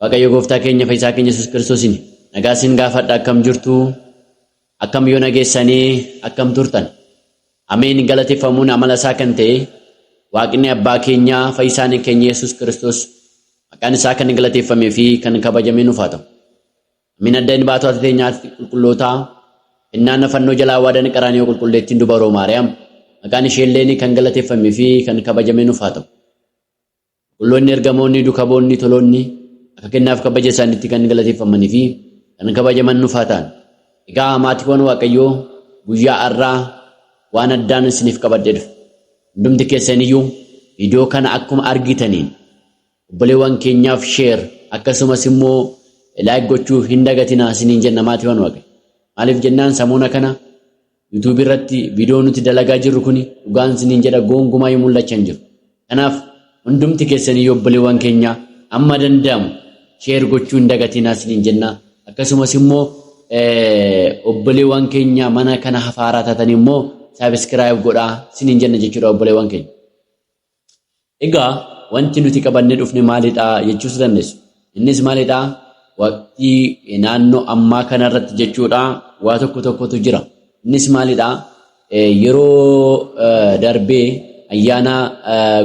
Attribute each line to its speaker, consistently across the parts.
Speaker 1: Waaqayyo gooftaa keenya fayyisaa keenya Yesuus Kiristoosiin nagaa isin gaafadha akkam jirtu akkam yoo nageessanii akkam turtan ameen galateeffamuun amala isaa kan ta'e waaqni abbaa keenyaa fayyisaan keenya Yesuus Kiristoos maqaan isaa kan galateeffamee fi kan kabajamee nuuf haa ta'u. Ameen adda inni baatota teenyaatti qulqullootaa kennaan fannoo jalaa waadan qaraanii qulqulleettiin dubaroo Maariyaam maqaan isheelleen kan galateeffamee fi kan kabajamee nuuf haa ta'u. Qulqulloonni ergamoonni dukaboonni toloonni akka kennaaf kabaja isaanitti kan galateeffamanii fi kan kabajaman nuuf haa ta'an. Egaa maatiiwwan Waaqayyoo guyyaa har'aa waan addaan isiniif qabadhee dhufe. Hundumti keessaniyyuu viidiyoo kana akkuma argitaniin obboleewwan keenyaaf sheer akkasumas immoo laayik gochuu hin dagatinaa isiniin jenna maatiiwwan Waaqayyo. Maaliif jennaan samuuna kana YouTube irratti viidiyoo nuti dalagaa jirru kuni dhugaan siniin jedha goongumaa yoo mul'achaa hin jiru. Kanaaf hundumti keessanii obboleewwan keenya amma danda'amu sheer gochuu hin dagatinaa siniin jenna. Akkasumas immoo obboleewwan keenya mana kana hafaaraa taatan immoo saabiskiraayib godhaa siniin jenna jechuudha obboleewwan keenya. Egaa wanti nuti qabannee dhufne maalidha jechuus dandeessu. Innis maalidha? Waqtii naannoo ammaa kanarratti jechuudha waa tokko tokkotu jira. Innis maalidha? Yeroo darbee ayyaana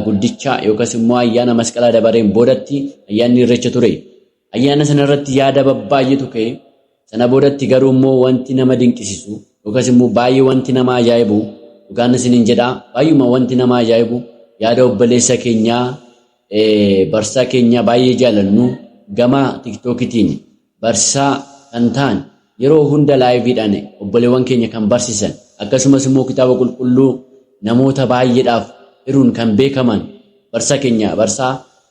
Speaker 1: guddichaa yookas immoo ayyaana masqalaa dabareen boodatti ayyaanni irreecha ture. Ayyaana sana irratti yaada babbaay'eetu ka'e. Sana boodatti garuu immoo wanti nama dinqisisu yookaas immoo baay'ee wanti nama ajaa'ibu dhugaan isiniin jedha baay'uma wanti nama ajaa'ibu yaada obboleessa keenyaa barsiisaa keenyaa baay'ee jaalannu gama tiktookitiin barsiisaa kan ta'an yeroo hunda laayiviidhaan obboleewwan keenya kan barsiisan akkasumas immoo kitaaba qulqulluu namoota baay'eedhaaf hiruun kan beekaman barsiisaa keenya barsiisaa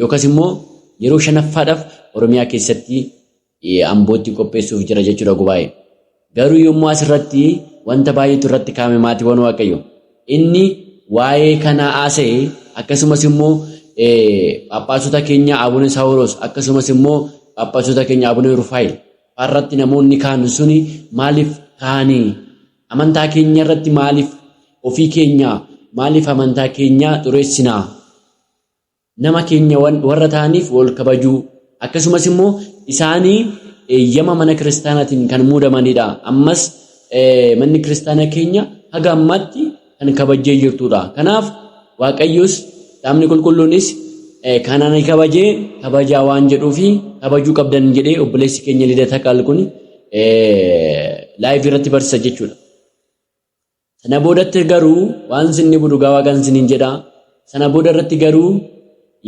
Speaker 1: Yookas immoo yeroo shanaffaadhaf Oromiyaa keessatti Ambootti qopheessuuf jira jechuudha gubaa'e. Garuu yommuu as irratti wanta baay'eetu irratti kaa'ame maatiiwwan Waaqayyo. Inni waa'ee kanaa haasa'e akkasumas immoo Phaaphaasota keenya Abuna Saawuroos akkasumas immoo Phaaphaasota keenya Abuna Rufaayil faarratti namoonni kaanu suni maaliif kaanii amantaa keenya irratti maaliif ofii keenya maaliif amantaa keenya xureessinaa nama keenya warra ta'aniif wal kabajuu akkasumas immoo isaanii eeyyama mana kiristaanaatiin kan muudamanidha. Ammas manni kiristaanaa keenya haga ammaatti kan kabajjee jirtudha. Kanaaf Waaqayyos dhaabni qulqulluunis kan ani kabajee kabajaa waan jedhuufi kabajuu qabdan jedhee obboleessi keenya Lidata Qaal kun laayivii irratti barsiisa jechuudha. Sana boodatti garuu waan sin dhibu dhugaa waaqan sinin jedha. Sana booda irratti garuu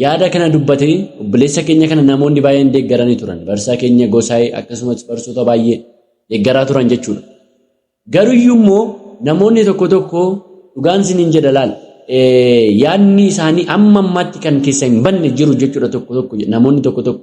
Speaker 1: yaada kana dubbate obboleessa keenya kana namoonni baay'een deeggaranii turan. Barsaa keenya gosaa'ee akkasumas barsoota baay'ee deeggaraa turan jechuudha. Garuyyuu immoo namoonni tokko tokko dhugaan sinin jedha laal. Yaadni isaanii amma ammaatti kan keessa hin banne jiru jechuudha tokko tokko namoonni tokko tokko.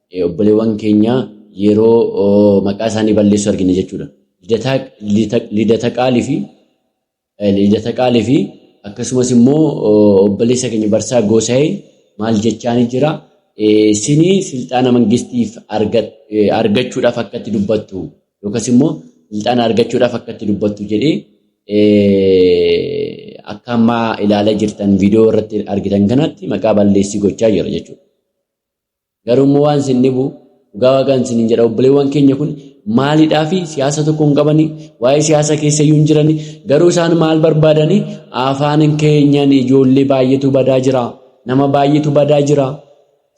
Speaker 1: Obboleewwan keenya yeroo maqaa isaanii balleessu argina jechuudha. Lidataqaalii fi lidataqaalii fi akkasumas immoo obboleessa keenya barsaa goosa'ee maal jechaanii jira. Sini silxaana mangistiif argachuudhaaf akka itti dubbattu yookas immoo silxaana argachuudhaaf akka itti dubbattu jedhee akka ammaa ilaalaa jirtan viidiyoo irratti argitan kanatti maqaa balleessii gochaa jira jechuudha. Garuu immoo waan isin dhibu dhugaa waaqaan isin hin jedha obboleewwan keenya kun maalidhaa fi siyaasa tokko hin qabani waa'ee siyaasa keessa iyyuu hin jirani garuu isaan maal barbaadani afaan keenyan ijoollee baay'eetu badaa jira nama baay'eetu badaa jira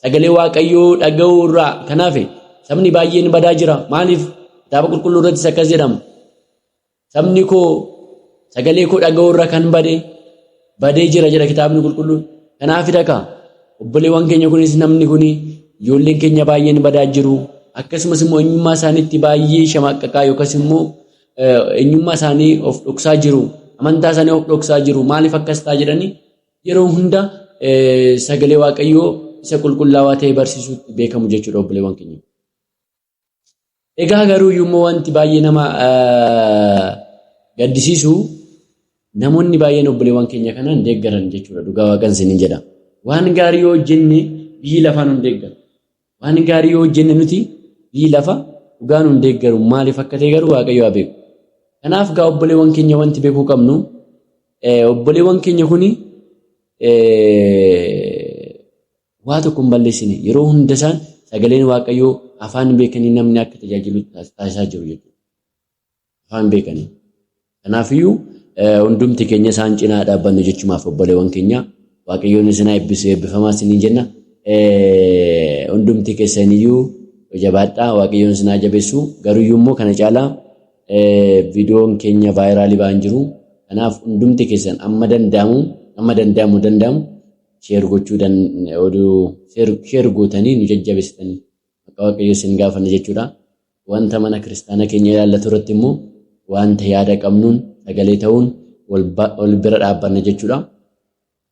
Speaker 1: sagalee waaqayyoo dhaga'uu irraa kanaaf sabni baay'een badaa jira maaliif kitaaba qulqulluu irrattis akkas jedhama Sabni koo sagalee koo dhaga'uu irra kan bade badee jira jedha kitaabni qulqulluun. Kanaaf dhaqa obboleewwan keenya kunis namni kun ijoolleen keenya baay'een badaa jiru. Akkasumas immoo eenyummaa isaaniitti baay'ee shamaqqaqaa yookas immoo eenyummaa isaanii of dhoksaa jiru. Amantaa isaanii of dhoksaa jiru. Maaliif akkas ta'a jedhanii yeroo hunda sagalee waaqayyoo isa qulqullaawaa ta'e barsiisuutti beekamu jechuudha obboleewwan keenya. Egaa garuu immoo wanti baay'ee nama gaddisiisu namoonni baay'een obboleewwan keenya kanaan deeggaran jechuudha dhugaa waaqan isiniin jedha. Waan gaarii yoo hojjenne biyyi lafaa nun deeggaru. Waan gaarii yoo hojjenne nuti biyyi lafa dhugaa nun deeggaru maaliif akka ta'e garuu waaqayyo haa beeku. Kanaaf gaa obboleewwan keenya wanti beekuu qabnu obboleewwan keenya kuni Waa tokko hin balleessine. Yeroo hunda isaan sagaleen Waaqayyoo afaan beekanii namni akka tajaajilu taasisaa jiru jechuudha. Afaan beekanii. Kanaafiyyuu hundumti keenya isaan cinaa dhaabbannu jechumaaf obboleewwan keenya Waaqayyoon isin haa eebbisu eebbifamaa isiniin jenna. Hundumti keessaniyyuu jabaadhaa Waaqayyoon isin haa jabeessu. Garuyyuu immoo kana caalaa viidiyoon keenya vaayiraalii ba'an jiru. Kanaaf hundumti keessan amma danda'amu amma danda'amu danda'amu share gochuu dan oduu share share gootanii nu jajjabeessitan maqaa waaqayyoo sin gaafanna jechuudha. Wanta mana kiristaana keenya ilaallatu irratti immoo wanta yaada qabnuun sagalee ta'uun wal ba- wal bira dhaabbanna jechuudha.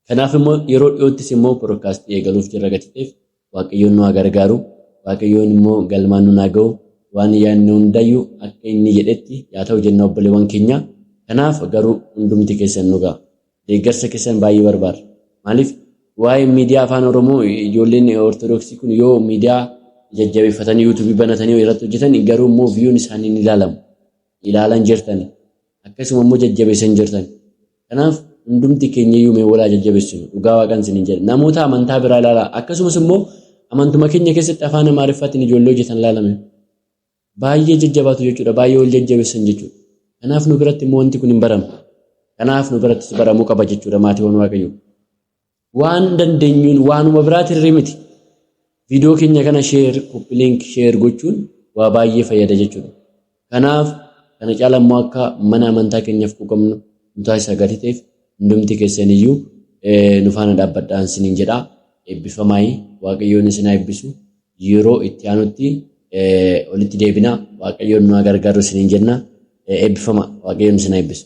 Speaker 1: Kanaaf immoo yeroo dhiyoottis immoo podcast eegaluuf jirra gatiteef Waaqayyoon nu haa gargaaru. Waaqayyoon immoo galmaan nun haa ga'u. Waan yaadne hundaayyuu akka inni jedhetti yaa ta'u jenna obboleewwan keenya. Kanaaf garuu hundumti keessan nu ga'a. Deeggarsa keessan baay'ee barbaada. Maaliif waa'ee miidiyaa afaan Oromoo ijoolleen Ortodoksii kun yoo miidiyaa jajjabeeffatanii yuutuubii banatanii irratti hojjetan garuu immoo viyuun isaanii ni ilaalamu. Ilaalan jirtani. Akkasuma immoo jajjabeessan jirtan. Kanaaf hundumti keenyayyuu mee walaa jajjabeessinu dhugaa waaqan isinin jedha. Namoota amantaa biraa ilaalaa akkasumas immoo amantuma keenya keessatti afaan Amaariffaatiin ijoollee hojjetan ilaalame. Baay'ee jajjabaatu jechuudha. Baay'ee wal jajjabeessan jechuudha. Kanaaf nu biratti immoo wanti kun hin baramu. Kanaaf nu birattis baramuu qaba jechuudha maatiiwwan waaqayyoo. Waan dandeenyuun waanuma biraa tirri miti. Viidiyoo keenya kana sheer, koppiliink, sheer gochuun waa baay'ee fayyada jechuudha. Kanaaf kana caala immoo akka mana amantaa keenyaaf quuqamnu nu taasisa gatii ta'eef hundumti keessaniyyuu nu faana dhaabbadhaan siniin jedha. Eebbifamaayi waaqayyoon isin haa eebbisu. Yeroo itti aanutti walitti deebina waaqayyoon nu haa gargaaru siniin jenna. Eebbifama waaqayyoon isin haa eebbisu.